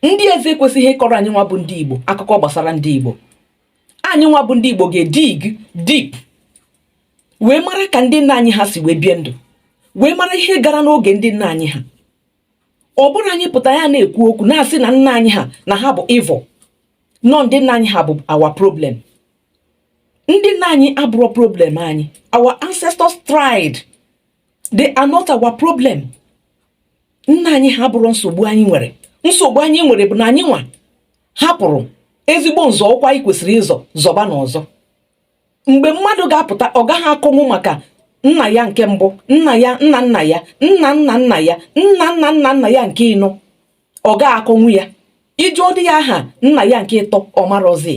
ndị ezi ekwesịghị ịkọrọ anyị nwa bụ ndị igbo akụkọ gbasara ndị igbo anyị nwa bụ ndị igbo ga-edig deep wee mara ka ndị nna anyị ha si wee bie ndụ wee mara ihe gara n'oge ndị nna anyị ha ọ bụrọ anyị pụta ya na-ekwu okwu na-asị na nna anyị ha na ha bụ evil na ọ ndị nna anyị ha bụ our problem ndị nna anyị abụrọ problem anyị our ancestors tried they are not our problem nna anyị ha abụrọ nsogbu anyị nwere nsogbu anyị nwere bụ na anyị nwa hapụrụ ezigbo nzọụkwụ anyị kwesịrị ịzọ zọba n'ọzọ mgbe mmadụ ga-apụta ọ gaghị akọnwu maka nna ya nke mbụ nna ya nna nna ya nna nna nna ya nna nna nna nna ya nke ịnọ ọ gaghị akọnwu ya ị jụọdị ya aha nna ya nke ịtọ ọ marọzi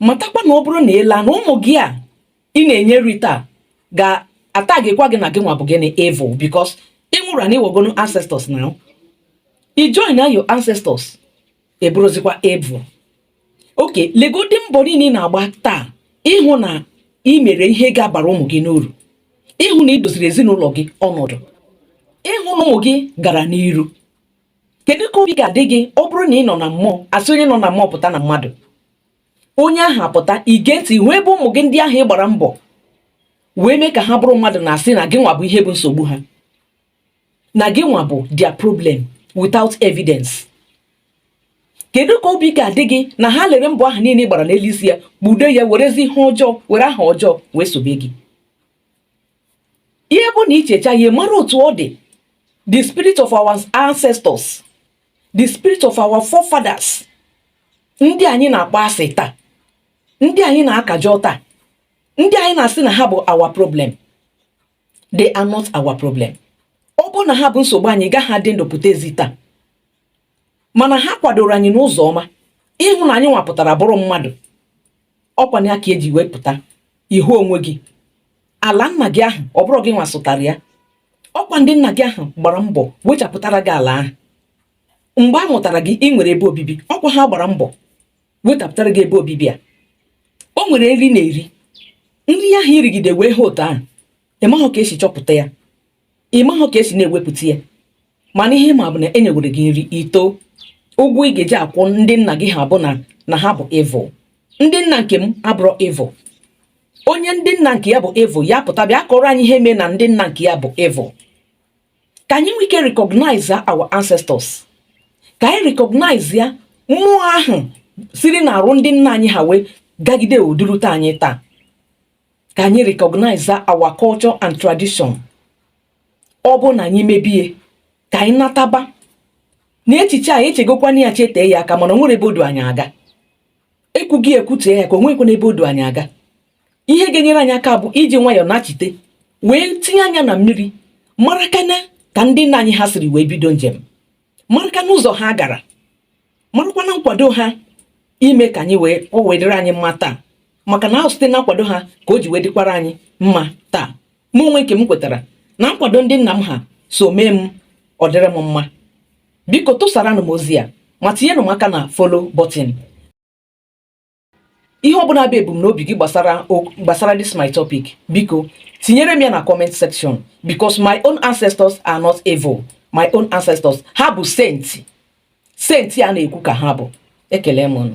matakwa na ọ bụrụ na ị laa na ụmụ gị a ị na-enye nri taa ga-atagịkwa gị na gị nwa bụ gịnị evil because ị nwụrụ na ị wọgonu ancestors now i joina your ancestors ị bụrụzikwa evil okay legodi mbọ niile ị na-agba taa ịhụ na ị mere ihe ga-abara ụmụ gị n'uru ịhụ na ị doziri ezinụlọ gị ọnọdụ ịhụ na ụmụ gị gara n'iru kedu ka obi ga-adị gị ọ bụrụ na ị nọ na mmụọ a sị onye nọ na mmụọ pụta na mmadụ onye ahụ apụta ige ntị hụ ebe ụmụ gị ndị ahụ ị gbara mbọ wee mee ka ha bụrụ mmadụ na-asị na gị nwa bụ ihe bụ nsogbu ha na gị nwa bụ their problem without evidence kedu ka obi ga-adị gị na ha lere mbọ ahụ niile ị gbara n'elu isi ya kpudo ya werezi ihe ọjọọ were aha ọjọọ wee sobe gị ihe bụ na i checha ihe mara otu ọ dị the spirit of our ancestors the spirit of our forefathers ndị anyị na-akpọ asị taa ndị anyị na-akajọ taa ndị anyị na-asị na ha bụ our problem they are not our problem ọ bụrụ na ha bụ nsogbu anyị agaghị adị ndụ pụta ezi taa mana ha kwadoro anyị n'ụzọ ọma ịhụ na anyị nwa pụtara bụrụ mmadụ ọkwa ya ka e ji wee pụta ị hụ onwe gị ala nna gị ahụ ọ bụrọ gị nwa sụtara ya ọkwa ndị nna gị ahụ gbara mbọ wechapụtara gị ala ahụ mgbe a mụtara gị ị nwere ebe obibi ọkwa ha gbara mbọ wechapụtara gị ebe obibi a o nwere nri ị na-eri nri ahụ i rigide wee ha otu ahụ ị mahụ ka e si chọpụta ya ị mahụ ka e si na-ewepụta ya mana ihe ị ma bụ na e nyewere gị nri i too ụgwọ ị ga-eji akwụ ndị nna gị ha bụ na ha bụ evil ndị nna nke m abụrọ evil onye ndị nna nke ya bụ evil ya pụta bịa kọrọ anyị ihe mee na ndị nna nke ya bụ evil ka anyị nwee ike recognize our ancestors ka anyị recognizea mmụọ ahụ siri n'arụ ndị nna anyị ha wee gagide o durute anyị taa ka anyị recognize our culture and tradition ọ bụrụ na anyị mebie ka anyị nataba na echiche a echegokwana ya chetee ya aka mana o nwere ebe o du anyị aga ekwughị ekwutee ya aka o nweghịkwana ebe o du anyị aga ihe ga-enyere anyị aka bụ iji nwayọọ nachite wee tinye anya na mmiri marakwana ka ndị nna anyị ha siri wee bido njem marakwana ụzọ ha gara marakwana nkwado ha ime ka anyị wee ọ wee dịrị anyị mma taa maka na ọ bụ site na nkwado ha ka o ji wee dịkwara anyị mma taa mụ onwe nke m kwetara na nkwado ndị nna m ha so mee m ọ dịrị m mma biko tụsaranụ m ozi a ma tinyenụ m aka na follow button ihe ọ bụla bụ ebumnobi gị gbasara this my topic biko tinyere m ya na comment section because my own ancestors are not evil my own ancestors ha bụ saint saint a na-ekwu ka ha bụ ekele m unu